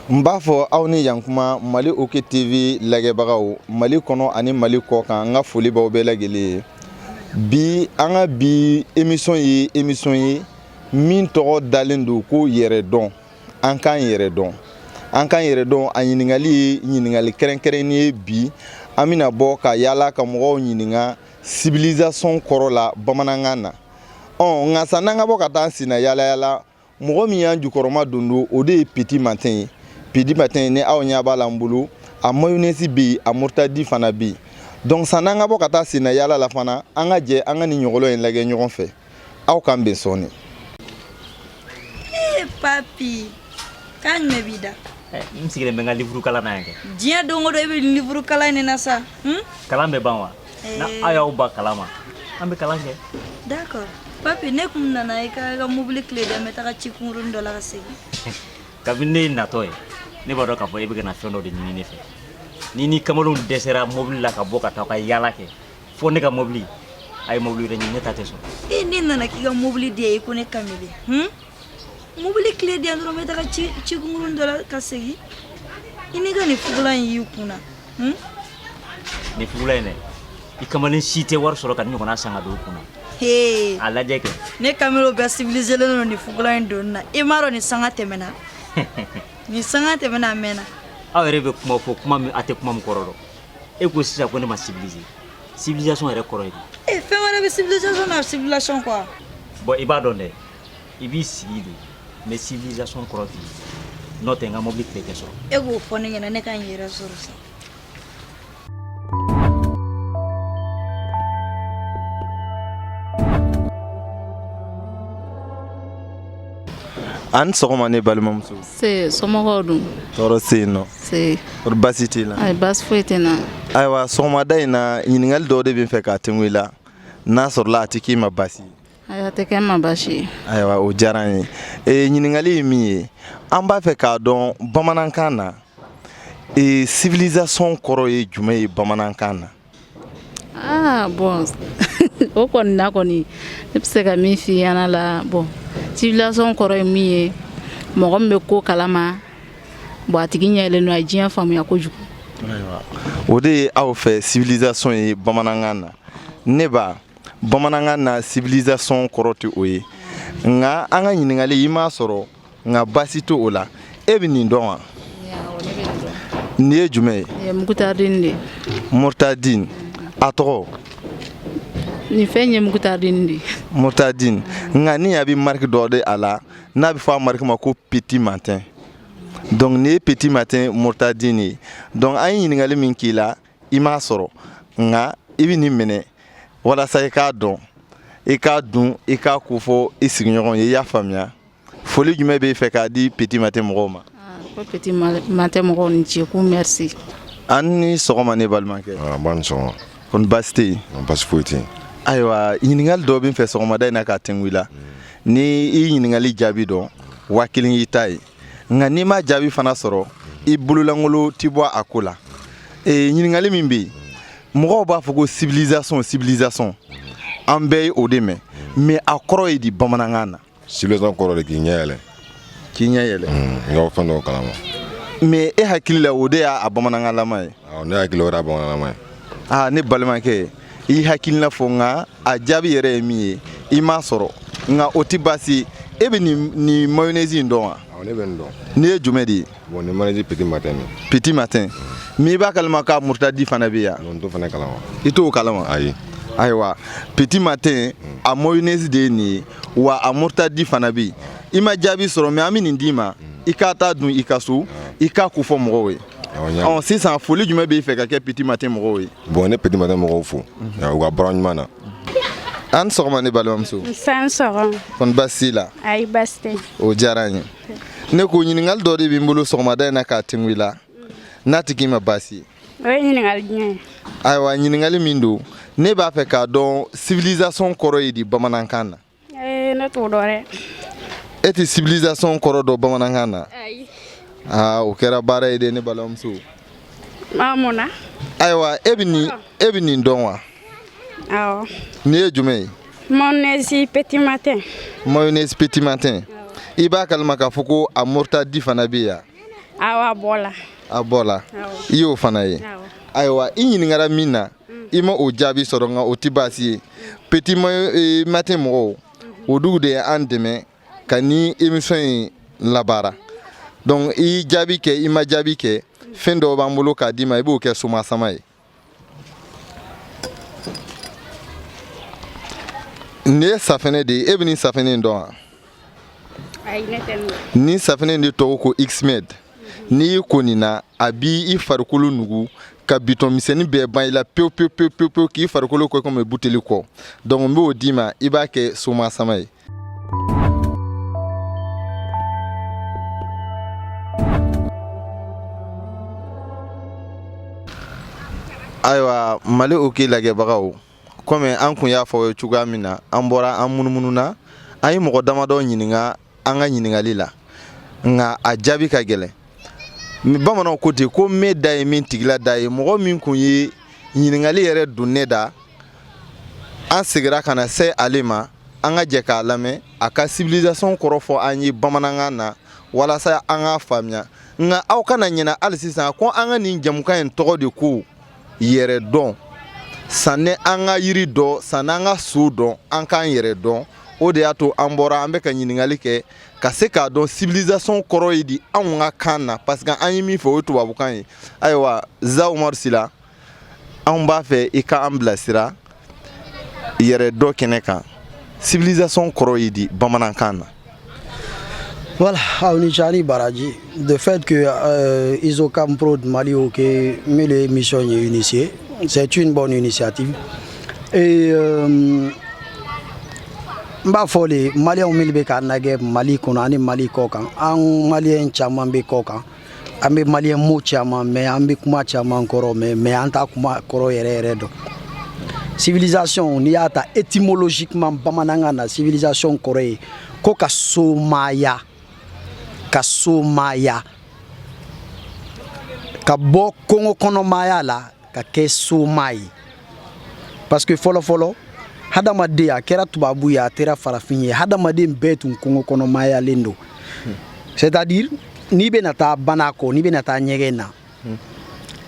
n b'a fɔ aw ni yan kuma mali ok tv lagɛbagaw mali kɔnɔ ani mali kɔkan n ka foli b'aw bɛɛ lajɛlen ye bi an ka bi emisɔn ye emisɔn ye min tɔgɔ dalen don ko yɛrɛ dɔn an k'an yɛrɛ dɔn an k'an yɛrɛ dɔn a ɲininkali ye ɲininkali kɛrɛnkɛrɛnnen ye bi an bɛna bɔ ka yaala ka mɔgɔw ɲininka civilisation kɔrɔ la bamanankan na ɔ nka sann'an ka bɔ ka taa an senna yaalayaala mɔgɔ min y'an jukɔrɔmadondon o de ye petit matin ye petit matin ni aw ɲɛ b'a la n bolo a mayonɛsi bɛ yen a murutadi fana bɛ yen donc sann'an ka bɔ ka taa senna yaala la fana an ka jɛ an ka nin ɲɔgɔlɔn in lagɛ ɲɔgɔn fɛ aw k'an bɛn sɔɔni ee papi k'a ɲɛ b'i da eh, n sigilen bɛ n ka livuru kalan na yan kɛ diɲɛ don o don i bɛ livuru kalan in de na sa hmm? kalan bɛ ban wa eh. na aw y'aw ban kalan ma an bɛ kalan kɛ d'accord papi ne tun nana i ka i ka mobili clé di n bɛ taga ci kunkurunin dɔ la ka segin kabini ne ye natɔ ye ne b'a dɔn k'a fɔ e bɛ ka na fɛn dɔ de ɲini ne fɛ n'i n'i kamalenw dɛsɛra mobili la ka bɔ ka taa ka yaala kɛ fo ne ka mobili a ye mobili wɛrɛ ɲini ne ta tɛ sɔn e ne nana k'i ka mobili di yan i ko ne kamalen hun mobili clé di yan dɔrɔn n bɛ taga ci kunkurunin dɔ la ka segin i n'i ka nin fugula in y'i kun na hun nin fugula in dɛ i kamalen si tɛ wari sɔrɔ ka nin ɲɔgɔnna san ka don i kun na hee a lajɛ kɛ ne kamalenw bɛɛ sivilizelen don nin fugula in donni na i m'a dɔn nin sanga tɛmɛna nin sanga tɛmɛna a mɛnna aw yɛrɛ bɛ kuma fɔ kuma min a tɛ kuma min kɔrɔ dɔn e ko sisan ko ne ma civilisé civilisation yɛrɛ kɔrɔ ye di e fɛn wɛrɛ bɛ civilisation na civilisation quoi bon i b'a dɔn dɛ i b'i sigi de mais civilisation kɔrɔ t'i ye n'o tɛ n ka mobili clé tɛ sɔrɔ e k'o fɔ ne ɲɛna ne ka n yɛrɛ sɔrɔ sa a ni sɔgɔma ne balimamuso nse somɔgɔw dun tɔɔrɔ tɛ yen nɔ nse kɔri baasi t'i la ayi baasi foyi tɛ n na ayiwa sɔgɔmada in na ɲininkali dɔw de bɛ n fɛ k'a tengu i la n'a sɔrɔla a tɛ k'i ma baasi ye ayi a tɛ kɛ n ma baasi ye ayiwa o diyara an ye ee ɲininkali ye min ye an b'a fɛ k'a dɔn bamanankan na ee civilisation kɔrɔ ye jumɛn ye bamanankan na Aa bɔn o kɔni na kɔni ne bɛ se ka min fɔ i y'a la bɔn civilisation kɔrɔ ye min ye mɔgɔ min bɛ ko kalama bɔn a tigi ɲɛ yɛlɛlen don a ye diɲɛ faamuya kojugu o de ye aw fɛ civilisation ye bamanankan na nba bamanankan na civilisation kɔrɔ tɛ o ye nka an ka ɲininkali i m'a sɔrɔ nka baasi t'o la e bɛ nin dɔn wa nin ye jumɛn ye eh, mukutadini de murtadini a tɔgɔ nin fɛn ye mukutadini de murtadini nka ni a bɛ mariki dɔ de a la n'a bɛ fɔ a mariki ma ko petit matin donc nin ye petit matin murtadini ye donc an ye ɲininkali min k'i la i m'a sɔrɔ nka i bɛ nin minɛ walasa i k'a dɔn i k'a dun i k'a ko fɔ i sigiɲɔgɔn ye i y'a faamuya foli jumɛn b'e fɛ k'a di petit matin mɔgɔw ma ko petit matin mɔgɔw ni ce ko mɛrisi an ni sɔgɔma ne balimakɛ ah, nba ni sɔgɔma kɔni baasi tɛ yen baasi foyi tɛ yen ayiwa ɲininkali dɔ bɛ n fɛ sɔgɔmada in na k'a tɛngu i la hmm. ni i ɲininkali jaabi dɔn waa kelen y'i ta ye nka n'i ma jaabi fana sɔrɔ i bololankolon ti bɔ a ko la e, ɲininkali min bɛ yen mɔgɔw b'a fɔ ko civilisation civilisation an bɛɛ ye o de mɛn mais a kɔrɔ ye di bamanankan na civilisation kɔrɔ de k'i ɲɛ yɛlɛ k'i ɲɛ yɛlɛ hmm, n ka fɛn dɔw kalama mais e hakili la o de y'a bamanankanlama ye ne hakili o y'a bamananlama ye aa ne balimakɛ i hakilina fɔ nka a jaabi yɛrɛ ye min ye i m'a sɔrɔ nka o tɛ baasi e bɛ nin mayonnaise in dɔn wa ne bɛ nin dɔn nin ye jumɛn de ye Bon nin mayonnaise petit matin de. Petit matin. Mais i b'a kalama k'a murutadi fana bɛ yan. Non n t'o fana kalama. I t'o kalama. Ayi. ayiwa petit matin a mayonnaise de ye nin ye wa a murutadi fana bɛ yen i ma jaabi sɔrɔ mais an bɛ nin d'i ma i k'a taa dun i ka so i k'a ko fɔ mɔgɔw ye. ɔ sisan foli jumɛn b'i fɛ ka kɛ petit matin mɔgɔw ye. bon ne petit matin mɔgɔw fo u ka baara ɲuman na. an sɔgɔma ne balimamuso. nse an sɔgɔma. kɔni baasi t'i la. ayi baasi tɛ. o diyara n ye. ne ko ɲininkali dɔ de bɛ n bolo sɔgɔmada in na k'a tɛngu i la n'a tɛ k'i ma baasi ye o ye ɲininkali jumɛn ye ayiwa ɲininkali min don ne b'a fɛ k'a dɔn civilisation kɔrɔ ye di bamanankan na ee ne t'o dɔn dɛ e tɛ civilisation kɔrɔ dɔn bamanankan na ayi aa o kɛra baara ye dɛ ne balimamuso Munna ayiwa e bɛ nin e bɛ nin dɔn wa nin ye jumɛn ye mayonnaise petit matin mayonnaise petit matin i b'a kalama k'a fɔ ko a murutadi fana bɛ yan a bɔla a bɔla i y'o fana ye ayiwa i ɲininkara min na i ma o jaabi sɔrɔ nka o tɛ baasi ye petit matin mɔgɔw olugu de ye an dɛmɛ ka nin émission in labaara donc i y'i jaabi kɛ i ma jaabi kɛ fɛn dɔw b'an bolo k'a d'i ma i b'o kɛ somasama ye nin ye safinɛ de ye e bɛ nin safinɛ in dɔn wa nin safinɛ in de tɔgɔ ko xmed n'i y'i ko nin na a b'i farikolo nugu ka bitɔn misɛnnin bɛɛ ban i la pewu pewu pewu pewu k'i farikolo kɛ komi buteli kɔ donc n b'o d'i ma i b'a kɛ somasama ye ayiwa Mali OK lajɛbagaw kɔmi an kun y'a fɔ cogoya min na an bɔra an munumununa an ye mɔgɔ damadɔ ɲininka an ka ɲininkali la nka a jaabi ka gɛlɛn bamananw ko ten ko me da ye min tigila da ye mɔgɔ min kun ye ɲininkali yɛrɛ don ne da an segira ka na se ale ma an ka jɛ k'a lamɛn a ka civilisation kɔrɔ fɔ an ye bamanankan na walasa an k'a faamuya nka aw kana ɲinɛ hali sisan ko an ka nin jamukan in tɔgɔ de ko yɛrɛ dɔn sanni an ka yiri dɔn sanni an ka so dɔn an k'an yɛrɛ dɔn o de y'a to an bɔra an bɛ ka ɲininkali kɛ ka se k'a dɔn civilisation kɔrɔ ye di anw ka kan na parce que an ye min fɔ o ye tubabukan ye ayiwa Za Umaru Sila anw b'a fɛ i ka an bilasira yɛrɛ dɔn kɛnɛ kan civilisation kɔrɔ ye di bamanankan na Voilà, aw ni ce aw ni baraji, de fait que euh, Isocam Pro de Mali OK, mais l'émission est initiée, c'est une bonne initiative. Et euh, n b'a fo le maliyɛnw minnu bɛ k'an nagɛ mali kɔnɔ ani mali kɔkan an maliyɛn caman bɛ kɔkan an bɛ maliyɛn mot caman mɛn an bɛ kuma caman kɔrɔ mɛn mais an t'a kuma kɔrɔ yɛrɛ yɛrɛ dɔn civilisation n'i y'a ta étymologiquement bamanankan na civilisation kɔrɔ ye ko ka somaya ka somaya ka bɔ kongo kɔnɔmaya la ka kɛ soma ye parce que fɔlɔ fɔlɔ hadamaden a kɛra tubabu ye a kɛra farafin ye hadamaden bɛɛ tun kungo kɔnɔmayalen don c'est à dire n'i bɛna taa banakɔ n'i bɛna taa ɲɛgɛn na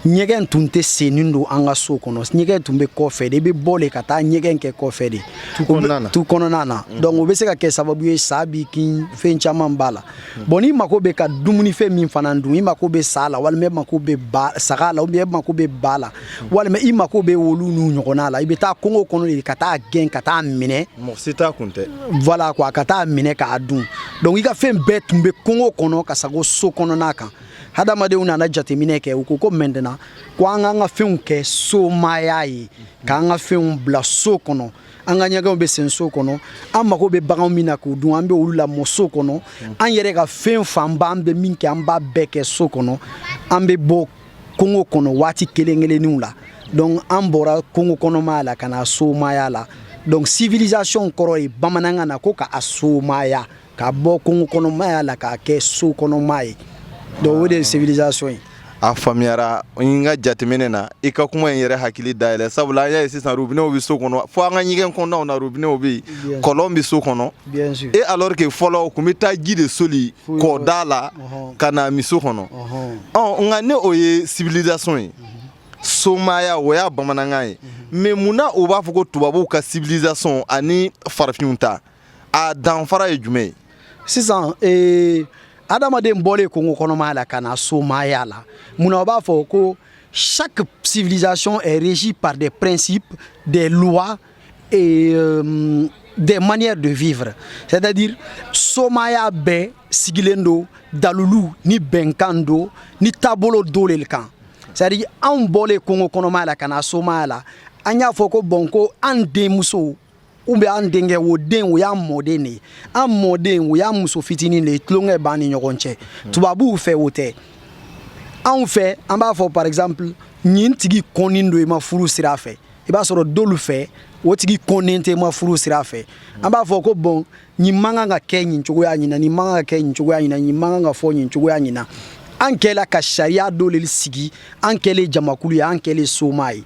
ɲɛgɛn tun tɛ sennen don an ka so kɔnɔ ɲɛgɛn tun bɛ kɔfɛ de i bɛ bɔ de ka taa ɲɛgɛn kɛ kɔfɛ de tu kɔnɔna na donc o bɛ se ka kɛ sababu ye sa b'i kin fɛn caman b'a la bon n'i mako bɛ ka dumunifɛn min fana dun i mako bɛ sa la walima e mako bɛ ba saga la ou bien e mako bɛ ba la walima i mako bɛ olu n'u ɲɔgɔnna la i bɛ taa kongo kɔnɔ de ka taa gɛn ka taa minɛ mɔgɔ si ta kun tɛ voilà quoi ka taa minɛ k'a dun donc i ka fɛn bɛɛ tun bɛ kongo kɔnɔ ka sago so kɔnɔna kan hadamadenw nana jateminɛ kɛ u ko ko maintenant ko an k'an ka fɛnw kɛ somaya ye k'an ka fɛnw bila so kɔnɔ an ka ɲɛgɛnw bɛ sen so kɔnɔ an mago bɛ baganw min na k'u dun an bɛ olu lamɔ so kɔnɔ an yɛrɛ ka fɛn fanba an bɛ min kɛ an b'a bɛɛ kɛ so kɔnɔ an bɛ bɔ kongo kɔnɔ waati kelen kelenninw la donc an bɔra kongo kɔnɔmaya la ka na somaya la donc civilisation kɔrɔ ye bamanankan na ko ka a somaya ka bɔ kungo kɔnɔmaya la k'a kɛ so kɔnɔma ye donc o de ye civilisation ye a faamuyara n ka jateminɛ na i ka kuma ye n yɛrɛ hakili dayɛlɛ sabula an y'a ye sisan rubinɛw bɛ so kɔnɔ fo an ka ɲɛgɛn kɔnɔnaw na rubinɛw bɛ yen kɔlɔn bɛ so kɔnɔ e alors que fɔlɔ u tun bɛ taa ji de soli kɔ da la ka n'a min so kɔnɔ ɔ nka ni o ye civilisation ye somaya o y'a bamanankan ye mais mun na u b'a fɔ ko tubabuw ka civilisation ani farafinw ta a danfara ye jumɛn ye sisan ee adamaden bɔlen kongo kɔnɔmaya la ka na somaya la mun na o b'a fɔ ko chaque civilisation est régie par des principes des lois et euh, des manières de vivre c'est-à-dire somaya bɛɛ sigilen don dalulu ni bɛnkan dɔ ni taabolo dɔ le kan c'est-à-dire anw bɔlen kongo kɔnɔmaya la ka na somaya la an y'a fɔ ko bon ko an denmuso ou bien an denkɛ o den o y'an mɔden de ye an mɔden o y'an muso fitinin de ye tulonkɛ b'an ni ɲɔgɔn cɛ tubabuw fɛ o tɛ anw fɛ an b'a fɔ par exemple nin tigi kɔnnen don i ma furu sira fɛ i b'a sɔrɔ dɔlu fɛ o tigi kɔnnen tɛ i ma furu sira fɛ an b'a fɔ ko bon nin man kan ka kɛ nin cogoya ɲin na nin man kan ka kɛ nin cogoya ɲin na nin man kan ka fɔ nin cogoya ɲin na an kɛla ka sariya dɔ le sigi an kɛlen jamakulu ye an kɛlen soma ye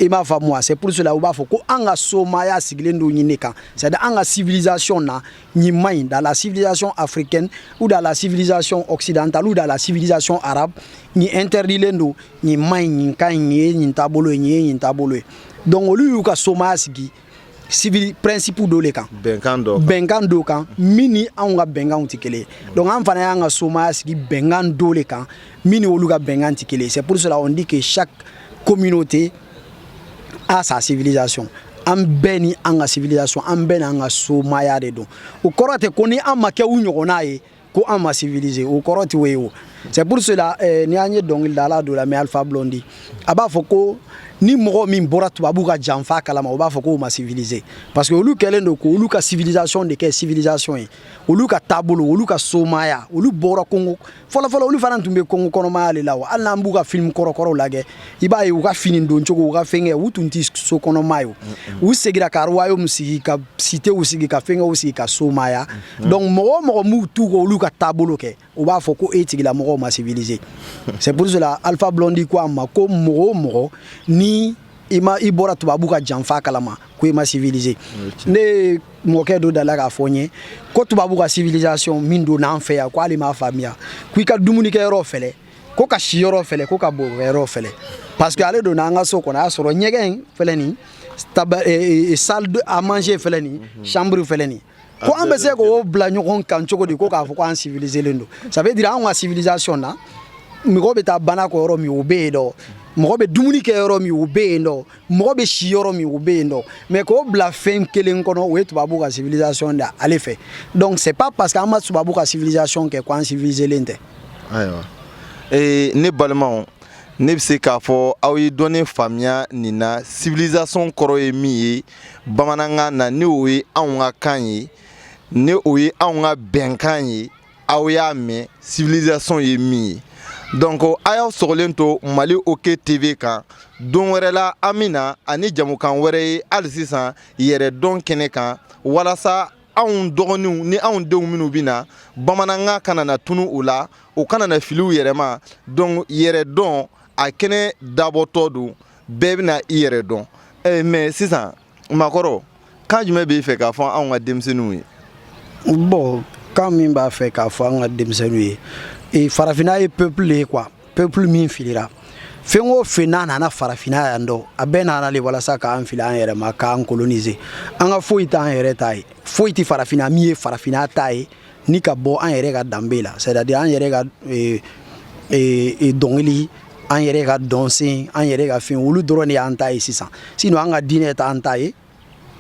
i m'a faamu a c'est pour cela u b'a fɔ ko an ka somaya sigilen don ɲin ne kan c'est à dire an ka civilisation na nin man ɲi dans la civilisation africaine ou dans la civilisation occidentale ou dans la civilisation arabe nin interdilen don nin man ɲi nin ka ɲi nin ye nin taabolo ye nin ye nin taabolo ye donc olu y'u ka somaya sigi civil principe dɔ le kan bɛnkan dɔ bɛnkan dɔ kan min ni anw ka bɛnkanw tɛ kelen ye donc an fana y'an ka somaya sigi bɛnkan dɔ le kan min ni olu ka bɛnkan tɛ kelen ye c'est pour cela on dit que chaque communauté a sa civilisation an bɛɛ ni an ka civilisation an bɛɛ n'an ka somaya de don o kɔrɔ tɛ ko ni an ma kɛ u ɲɔgɔnna ye ko an ma civiliser o kɔrɔ tɛ o ye o c'est pour cela eh, ni an ye dɔnkilidala dɔ lamɛn alpha blondi a b'a fɔ ko ni mɔgɔ min bɔra tubabu ka janfa kalama o b'a fɔ k'o ma civiliser parce que olu kɛlen don k'olu ka civilisation de kɛ civilisation ye olu ka taabolo olu ka somaya olu bɔra kongo fɔlɔfɔlɔ olu fana tun bɛ kongo kɔnɔmaya de la wa hali n'an b'u ka film kɔrɔkɔrɔw lajɛ i b'a ye u ka fini don cogo u ka fɛnkɛ u tun tɛ so kɔnɔma ye u segira ka royaume sigi ka sitew sigi ka fɛnkɛw sigi ka somaya donc mɔgɔ o mɔgɔ m'u t'u ko olu ka taabolo kɛ u b'a fɔ ko o tigilamɔgɔw ma civiliser c'est pour cela alpha blondi ko a ma ko mɔgɔ o mɔgɔ ni i ma i bɔra tubabu ka janfa kalama ko i ma civiliser ne mɔkɛ dɔ delila k'a fɔ n ye ko tubabu ka civilisation min donna an fɛ yan ko ale m'a faamuya ko i ka dumunikɛyɔrɔ fɛlɛ ko ka si yɔrɔ fɛlɛ ko ka bo yɔrɔ fɛlɛ parce que ale donna an ka so kɔnɔ a y'a sɔrɔ ɲɛgɛn in fɛlɛ nin taba eh, eh, salle à manger fɛlɛ nin mhm. chambre fɛlɛ nin ko an bɛ se k'o bila ɲɔgɔn kan cogo di ko k'a fɔ ko an civilisé len don ça veut dire anw ka civilisation na mɔgɔ bɛ taa banakɔ yɔrɔ min o bɛ yen dɔ mɔgɔ bɛ dumuni kɛ yɔrɔ min o bɛ yen dɔ mɔgɔ bɛ si yɔrɔ min o bɛ yen dɔ mais k'o bila fɛn kelen kɔnɔ o ye tubabu ka civilisation de ale fɛ donc c'est pas parce que an ma tubabu ka civilisation kɛ ko an civilisé len tɛ ayiwa ee ne balimaw ne bɛ se k'a fɔ aw ye dɔɔnin faamuya nin na civilisation kɔrɔ ye min ye bamanankan na ni o ye anw ka kan ye ni o ye anw ka bɛnkan ye aw y'a mɛn civilisation ye min ye donc a y'aw sɔgɔlen to mali ok tv kan don wɛrɛ la an bɛ na ani jɛmukan wɛrɛ ye hali sisan yɛrɛ dɔn kɛnɛ kan walasa anw dɔgɔninw ni anw denw minnu bɛ na bamanankan kana na tunu u la u kana na fili u yɛrɛ ma donc yɛrɛ dɔn a kɛnɛ dabɔtɔ don bɛɛ bɛna i yɛrɛ dɔn eh, mais sisan makɔrɔ kan jumɛn b'i fɛ k'a fɔ anw ka denmisɛnninw ye bon kan min b'a fɛ k'a fɔ an ka denmisɛnninw ye eh, farafinna ye peuple ye quoi peuple min filira fɛn o fɛn n'a nana farafinna yan dɔ a bɛɛ nana le walasa k'an fili an yɛrɛ ma k'an coloniser an ka foyi t'an yɛrɛ ta ye foyi tɛ farafinna min ye farafinna ta ye ni ka bɔ an yɛrɛ ka danbe la c'est à dire an yɛrɛ ka eh, eh, eh, dɔnkili an yɛrɛ ka dɔnsen an yɛrɛ ka fɛn olu dɔrɔn de y'an ta ye sisan sinon an ka diinɛ t'an ta ye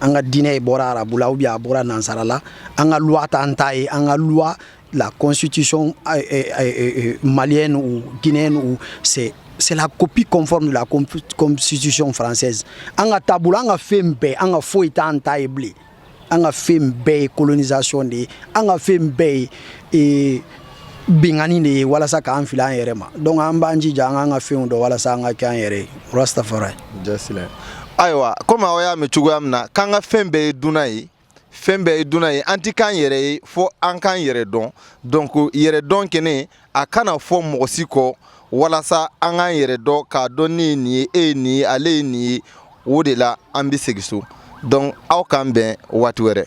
an ka diinɛ bɔra arabu la ou bien a bɔra nansara la an ka loi t'an ta ye an ka loi la constitution eh, eh, eh, malienne ou guinéenne ou c'est c'est la copie conforme de la constitution française an ka taabolo an ka fɛn bɛɛ an ka foyi t'an ta ye bilen an ka fɛn bɛɛ ye colonisation de ye an ka fɛn bɛɛ ye binkanni de ye walasa k'an fili an yɛrɛ ma donc an b'an jija an k'an ka fɛnw dɔn walasa an ka kɛ an yɛrɛ ye rastafari jasilɛ ayiwa komi aw y'a mɛn cogoya min na k'an ka fɛn bɛɛ ye dunan ye fɛn bɛɛ ye dunan ye an ti k'an yɛrɛ ye fo an k'an yɛrɛ dɔn donc yɛrɛ dɔn kɛnɛ a kana fɔ mɔgɔ si kɔ walasa an k'an yɛrɛ dɔn k'a dɔn ne ye nin ye e ye nin ye ale ye nin ye o de la an bɛ segin so donc aw k'an bɛn waati wɛrɛ